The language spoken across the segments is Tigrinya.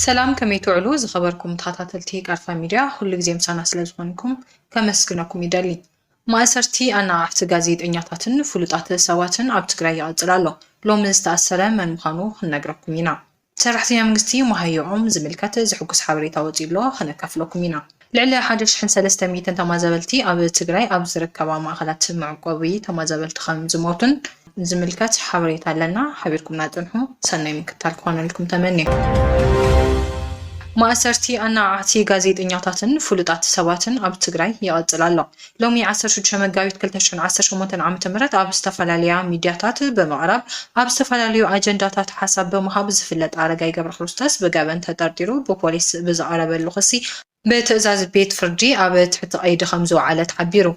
ሰላም ከመይ ትውዕሉ ዝኸበርኩም ተኸታተልቲ ቃርፋ ሚድያ ኩሉ ግዜ ምሳና ስለ ዝኾንኩም ከመስግነኩም ይደሊ። ማእሰርቲ ኣነቓቕሕቲ ጋዜጠኛታትን ፍሉጣት ሰባትን ኣብ ትግራይ ይቕጽል ኣሎ። ሎሚ ዝተኣሰረ መን ምዃኑ ክንነግረኩም ኢና። ሰራሕተኛ መንግስቲ መሃየኦም ዝምልከት ዘሕጉስ ሓበሬታ ወጺኡ'ሎ፣ ከነካፍለኩም ኢና። ልዕሊ ሓደ ሽሕን ሰለስተ ሚእትን ተማዛበልቲ ኣብ ትግራይ ኣብ ዝርከባ ማእኸላት መዕቆቢ ተማዛበልቲ ከም ዝሞቱን ዝምልከት ሓበሬታ ኣለና። ሓቢርኩምና ጽንሑ። ሰናይ ምክትታል ክኾነልኩም ተመንየ። ማእሰርቲ ኣናዓዕቲ ጋዜጠኛታትን ፍሉጣት ሰባትን ኣብ ትግራይ ይቕጽል ኣሎ። ሎሚ ዓሰርተ ሽዱሽተ መጋቢት ክልተ ሽሕን ዓሰርተ ሸሞንተን ዓመተ ምህረት ኣብ ዝተፈላለያ ሚድያታት ብምቕራብ ኣብ ዝተፈላለዩ ኣጀንዳታት ሓሳብ ብምሃብ ዝፍለጥ ኣረጋይ ገብረክርስቶስ ብገበን ተጠርጢሩ ብፖሊስ ብዝቐረበሉ ክሲ ብትእዛዝ ቤት ፍርዲ ኣብ ትሕቲ ቀይዲ ከምዝወዓለ ተሓቢሩ።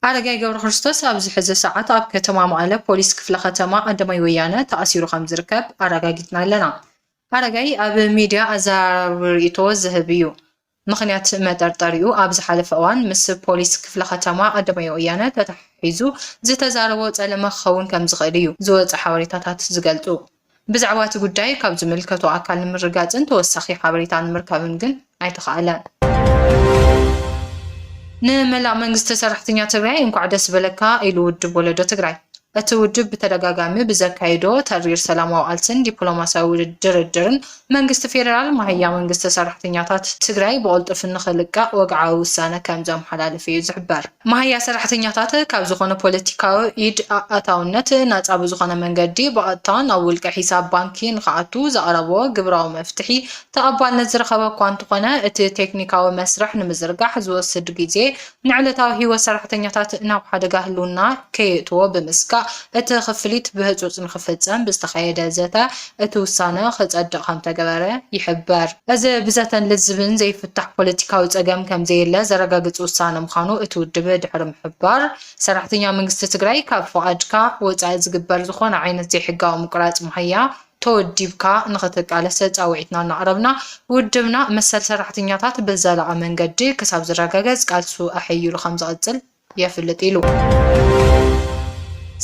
ኣረጋይ ገብረክርስቶስ ኣብዚ ሕዚ ሰዓት ኣብ ከተማ መቐለ ፖሊስ ክፍለ ከተማ ቀዳማይ ወያነ ተኣሲሩ ከምዝርከብ ኣረጋጊፅና ኣለና። ኣረጋይ ኣብ ሚድያ ኣዘራራቢ ሪኢቶ ዝህብ እዩ። ምኽንያት መጠርጠሪኡ ኣብ ዝሓለፈ እዋን ምስ ፖሊስ ክፍለ ከተማ ኣደባባይ ወያነ ተተሓሒዙ ዝተዛረቦ ጸለመ ክኸውን ከምዝኽእል እዩ ዝወጹ ሓበሬታታት ዝገልጹ። ብዛዕባ እቲ ጉዳይ ካብ ዝምልከቶ ኣካል ንምርግጋጽን ተወሳኺ ሓበሬታ ንምርካብን ግን ኣይተኻእለን። ንመላእ መንግስቲ ሰራሕተኛ ትግራይ እንኳዕ ደስ በለካ ኢሉ ውድብ ወለዶ ትግራይ። እቲ ውድብ ብተደጋጋሚ ብዘካይዶ ተሪር ሰላማዊ ቃልሲን ዲፕሎማሲያዊ ድርድርን መንግስቲ ፌደራል ማህያ መንግስቲ ሰራሕተኛታት ትግራይ ብቕልጡፍ ንኽልቀቕ ወግዓዊ ውሳነ ከምዘመሓላለፈ እዩ ዝሕበር። ማህያ ሰራሕተኛታት ካብ ዝኾነ ፖለቲካዊ ኢድ ኣእታውነት ናፃ ብዝኾነ መንገዲ ብቐጥታ ናብ ውልቀ ሒሳብ ባንኪ ንኽኣቱ ዘቕረቦ ግብራዊ መፍትሒ ተቐባልነት ዝረኸበ እኳ እንተኾነ እቲ ቴክኒካዊ መስርሕ ንምዝርጋሕ ዝወስድ ግዜ ንዕለታዊ ህይወት ሰራሕተኛታት ናብ ሓደጋ ህልውና ከየእትዎ ብምስጋእ እቲ ክፍሊት ብህፁፅ ንክፍፀም ብዝተኻየደ ዘተ እቲ ውሳነ ክፀድቕ ከምተገበረ ይሕበር። እዚ ብዘተን ልዝብን ዘይፍታሕ ፖለቲካዊ ፀገም ከምዘየለ ዘረጋግፅ ውሳነ ምዃኑ እቲ ውድብ ድሕሪ ምሕባር፣ ሰራሕተኛ መንግስቲ ትግራይ ካብ ፍቓድካ ወፃኢ ዝግበር ዝኾነ ዓይነት ዘይሕጋዊ ምቁራፅ መሃያ፣ ተወዲብካ ንኽትቃለሰ ጻውዒትና እናቕረብና፣ ውድብና መሰል ሰራሕተኛታት ብዘላቒ መንገዲ ክሳብ ዝረጋገጽ ቃልሱ ኣሐይሉ ከምዝቕጽል የፍልጥ ኢሉ።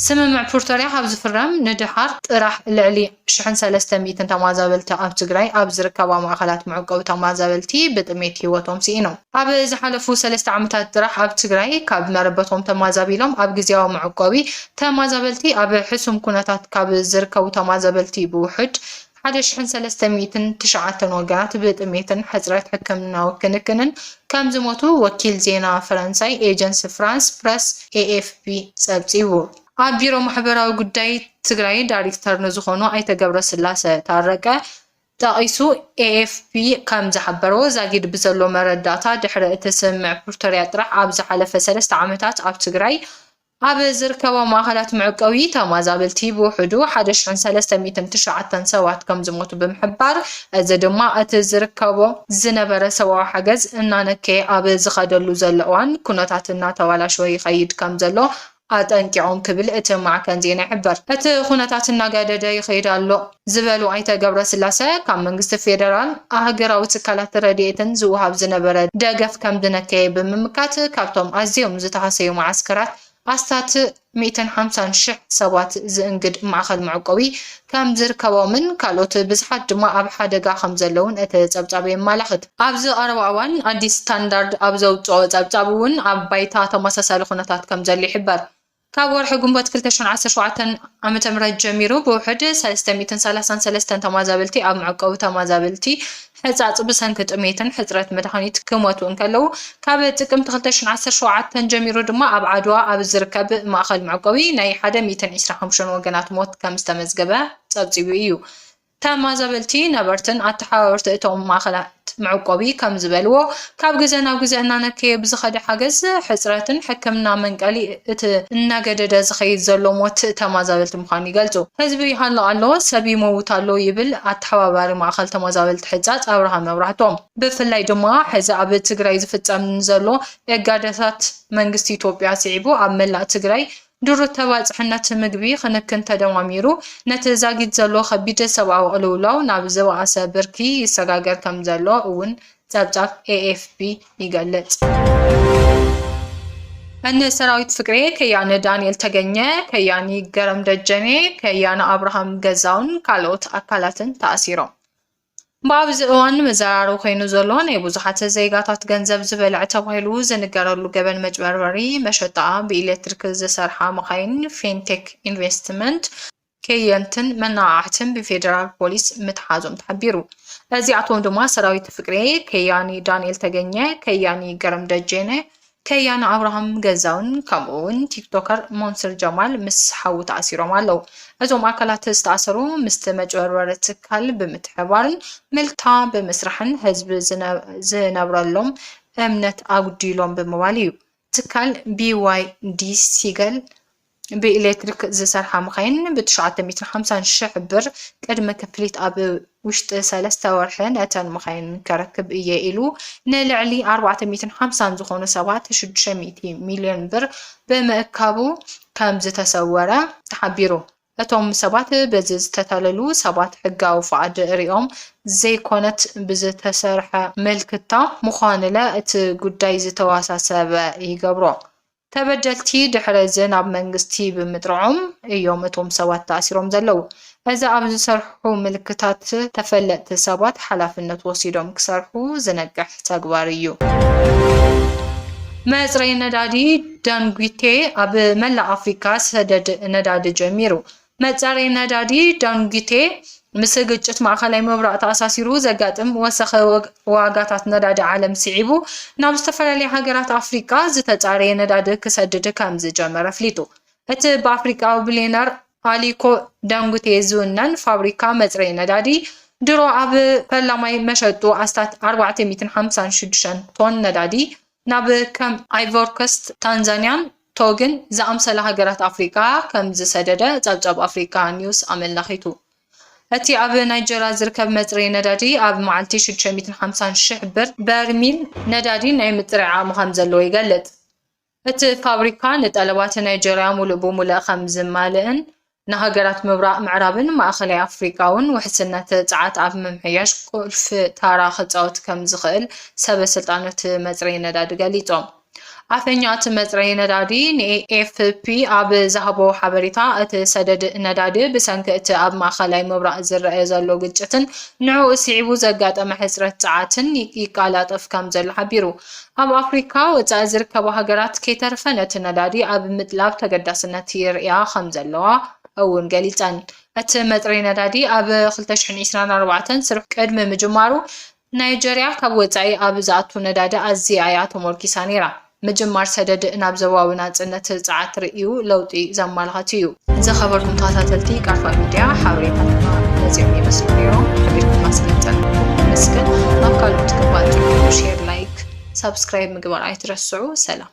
ስምምዕ ፕርቶርያ ካብ ዝፍረም ንደሓር ጥራሕ ልዕሊ ሽሕን ሰለስተ ሚእትን ተማዛበልቲ ኣብ ትግራይ ኣብ ዝርከባ ማእኸላት መዕቆቢ ተማዛበልቲ ብጥሜት ህይወቶም ስኢኖም። ኣብ ዝሓለፉ ሰለስተ ዓመታት ጥራሕ ኣብ ትግራይ ካብ መረበቶም ተማዛቢሎም ኣብ ግዝያዊ መዕቆቢ ተማዛበልቲ ኣብ ሕሱም ኩነታት ካብ ዝርከቡ ተማዘበልቲ ብውሑድ ሓደ ሽሕን ሰለስተ ሚእትን ትሽዓተን ወገናት ብጥሜትን ሕፅረት ሕክምናዊ ክንክንን ከምዝሞቱ ወኪል ዜና ፈረንሳይ ኤጀንስ ፍራንስ ፕረስ፣ AFP፣ ፀብፂቡ። ኣብ ቢሮ ማሕበራዊ ጉዳይ ትግራይ ዳሪክተር ንዝኾኑ ኣይተ ገብረስላሰ ታረቀ፣ ጠቒሱ ኤኤፍፒ ከም ዝሓበሮ፣ ዛጊድ ብዘሎ መረዳእታ ድሕሪ እቲ ስምምዕ ፕርቶርያ ጥራሕ ኣብ ዝሓለፈ ሰለስተ ዓመታት ኣብ ትግራይ ኣብ ዝርከባ ማእኸላት መዕቆቢ ተማዛበልቲ ብውሕዱ ሓደ ሽሕን ሰለስተ ሚእትን ትሽዓተን ሰባት ከም ዝሞቱ ብምሕባር እዚ ድማ እቲ ዝርከቦ ዝነበረ ሰብኣዊ ሓገዝ እናነከየ ኣብ ዝኸደሉ ዘሎ እዋን ኩነታት እናተባላሸወ ይኸይድ ከም ዘሎ ኣጠንቂቖም ክብል እቲ ማዕከን ዜና ይሕብር። እቲ ኩነታት እናገደደ ይኸይድ ኣሎ ዝበሉ ኣይተ ገብረስላሰ፣ ካብ መንግስቲ ፌደራልን ኣህገራዊ ትካላት ረድኤትን ዝወሃብ ዝነበረ ደገፍ ከምዝነከየ ብምምካት፣ ካብቶም ኣዝዮም ዝተሃሰዩ መዓስከራት ኣስታት ሚእትን ሓምሳን ሽሕ ሰባት ዝእንግድ ማእኸል መዕቆቢ ከም ዝርከቦምን ካልኦት ብዝሓት ድማ ኣብ ሓደጋ ከም ዘለዉን እቲ ጸብጻብ የማላኽት። ኣብዚ ቀረባ እዋን ኣዲስ ስታንዳርድ ኣብ ዘውጽኦ ጸብጻብ እውን ኣብ ባይታ ተመሳሳሊ ኩነታት ከም ዘሎ ይሕበር። ካብ ወርሒ ግንቦት ክልተ ሽሕን ዓሰርተ ሸውዓተን ዓመተ ምህረት ጀሚሩ ብውሕድ ሰለስተ ሚእትን ሰላሳን ሰለስተን ተማዛበልቲ ኣብ መዕቆቢ ተማዛበልቲ ሕጻጽ ብሰንኪ ጥሜትን ሕጽረት መድሃኒት ክሞቱ እንከለዉ፣ ካብ ጥቅምቲ ክልተ ሽሕን ዓሰርተ ሸውዓተን ጀሚሩ ድማ ኣብ ዓድዋ ኣብ ዝርከብ ማእከል መዕቆቢ ናይ ሓደ ሚእትን ዕስራ ሓሙሽተን ወገናት ሞት ከም ዝተመዝገበ ጸብጺቡ እዩ። ተማዛበልቲ ነበርትን ኣተሓባበርቲ እቶም ማእከላት መዕቆቢ ከም ዝበልዎ፣ ካብ ግዘ ናብ ግዘ እናነከየ ብዝኸደ ሓገዝ ሕፅረትን ሕክምና መንቀሊ እቲ እናገደደ ዝኸይድ ዘሎ ሞት ተማዛበልቲ ምዃኑ ይገልፁ። ህዝቢ ይሃሉ ኣሎ፣ ሰብ ይመውት ኣሎ ይብል ኣተሓባባሪ ማእኸል ተማዛበልቲ ሕፃፅ ኣብርሃ መብራህቱ። ብፍላይ ድማ ሕዚ ኣብ ትግራይ ዝፍፀም ንዘሎ እጋደታት መንግስቲ ኢትዮጵያ ስዒቡ ኣብ መላእ ትግራይ ድሩት ተባፅሕነት ምግቢ ኽንክን ተደማሚሩ ነቲ ዛጊት ዘሎ ኸቢድ ሰብኣዊ ቕልውላው ናብ ዝበኣሰ ብርኪ ይሰጋገር ከምዘሎ እውን ጸብጻብ ኤኤፍፒ ይገልጽ። እኒ ሰራዊት ፍቅሬ፣ ከያኒ ዳንኤል ተገኘ፣ ከያኒ ገረም ደጀኔ፣ ከያኒ ኣብርሃም ገዛውን ካልኦት ኣካላትን ተኣሲሮም። ብኣብዚ እዋን መዘራረቢ ኮይኑ ዘሎ ናይ ብዙሓት ዜጋታት ገንዘብ ዝበልዐ ተባሂሉ ዝንገረሉ ገበን መጭበርበሪ መሸጣ ብኤሌክትሪክ ዝሰርሓ መኻይን ፌንቴክ ኢንቨስትመንት ከየንትን መናቓቕሕትን ብፌደራል ፖሊስ ምትሓዞም ተሓቢሩ። እዚኣቶም ድማ ሰራዊት ፍቅሬ፣ ከያኒ ዳንኤል ተገኘ፣ ከያኒ ገረም ደጀነ፣ ከያኒ ኣብርሃም ገዛውን ከምኡ እውን ቲክቶከር ሞንስር ጀማል ምስ ሓዉ ተኣሲሮም ኣለዉ። እዞም ኣካላት ዝተኣሰሩ ምስቲ መጭበርበሪ ትካል ብምትሕብባርን ምልታ ብምስራሕን ህዝቢ ዝነብረሎም እምነት ኣጉዲሎም ብምባል እዩ ትካል BYD ሲገል ብኤሌክትሪክ ዝሰርሓ መኻይን ብ ትሽዓተ ሚእትን ሓምሳን ሽሕ ብር ቅድመ ክፍሊት ኣብ ውሽጢ ሰለስተ ወርሒ ነተን መኻይን ከረክብ እየ ኢሉ ንልዕሊ ኣርባዕተ ሚእትን ሓምሳን ዝኾኑ ሰባት ሽዱሽተ ሚእቲ ሚልዮን ብር ብምእካቡ ከምዝተሰወረ ተሓቢሩ። እቶም ሰባት በዚ ዝተታለሉ ሰባት ሕጋዊ ፍቓድ ርእዮም ዘይኮነት ብዝተሰርሐ ምልክታ ምዃንለ እቲ ጉዳይ ዝተወሳሰበ ይገብሮ። ተበደልቲ ድሕሪ እዚ ናብ መንግስቲ ብምጥርዖም እዮም እቶም ሰባት ተኣሲሮም ዘለዉ። እዚ ኣብ ዝሰርሑ ምልክታት ተፈለጥቲ ሰባት ሓላፍነት ወሲዶም ክሰርሑ ዝነቅሕ ተግባር እዩ። መጽረዪ ነዳዲ ዳንጒቴ ኣብ መላእ ኣፍሪቃ ሰደድ ነዳዲ ጀሚሩ። መጻረዪ ነዳዲ ዳንጉቴ ምስ ግጭት ማእኸላይ ምብራቕ ተኣሳሲሩ ዘጋጥም ወሰኸ ዋጋታት ነዳዲ ዓለም ስዒቡ ናብ ዝተፈላለያ ሃገራት ኣፍሪቃ ዝተጻረየ ነዳዲ ክሰድድ ከምዝጀመረ ኣፍሊጡ። እቲ ብኣፍሪቃዊ ቢልየነር ኣሊኮ ዳንጉቴ ዝውነን ፋብሪካ መጽረዪ ነዳዲ ድሮ ኣብ ፈላማይ መሸጡ ኣስታት ኣርባዕተ ሚእትን ሓምሳን ሽዱሽተን ቶን ነዳዲ ናብ ከም ኣይቮርኮስት፣ ታንዛንያን ቶግን ዝኣምሰላ ሃገራት ኣፍሪቃ ከም ዝሰደደ ጸብጻብ ኣፍሪቃ ኒውስ ኣመላኺቱ። እቲ ኣብ ናይጀርያ ዝርከብ መጽረዪ ነዳዲ ኣብ መዓልቲ ሽዱሽተ ሚእትን ሓምሳን ሽሕ ብር በርሚል ነዳዲ ናይ ምጽራይ ዓቕሚ ከም ዘለዎ ይገልጽ። እቲ ፋብሪካ ንጠለባት ናይጀርያ ምሉእ ብምሉእ ከም ዝማልእን ንሃገራት ምብራቕ ምዕራብን ማእከላይ ኣፍሪቃ'ውን ውሕስነት ጸዓት ኣብ ምምሕያሽ ቁልፊ ታራ ክጻወት ከም ዝኽእል ሰበ ስልጣን'ቲ መጽረዪ ነዳዲ ገሊጾም። ኣፈኛ'ቲ መጽረዪ ነዳዲ ንኤኤፍፒ ኣብ ዝሃቦ ሓበሬታ፣ እቲ ሰደድ ነዳዲ ብሰንኪ እቲ ኣብ ማእከላይ ምብራቕ ዝረኣ ዘሎ ግጭትን ንዕኡ ስዒቡ ዘጋጠመ ሕጽረት ጸዓትን ይቃላጠፍ ከም ዘሎ ሓቢሩ። ኣብ ኣፍሪካ ወፃኢ ዝርከባ ሃገራት ከይተረፈ ነቲ ነዳዲ ኣብ ምጥላብ ተገዳስነት የርእያ ከምዘለዋ እውን ገሊፀን። እቲ መፅረይ ነዳዲ ኣብ ክልተ ሽሕን ዒስራን ኣርባዕተን ስርሑ ቅድሚ ምጅማሩ ናይጀርያ ካብ ወፃኢ ኣብ ዝኣቱ ነዳዲ ኣዝያ እያ ተሞርኪሳ ነይራ። ምጅማር ሰደድ ናብ ዞባዊ ናፅነት ፀዓት ርእዩ ለውጢ ዘመላኽት እዩ። ዝኸበርኩም ተኸታተልቲ ቃልፋ ሚድያ ሓበሬታትና ነዚኦም ይመስሉ ነይሮም ሓቢርኩምና ስለዝፀናሕኩም ነመስግን ናብ ካልኦት ክፋል ሼር ላይክ ሳብስክራይብ ምግባር ኣይትረስዑ ሰላም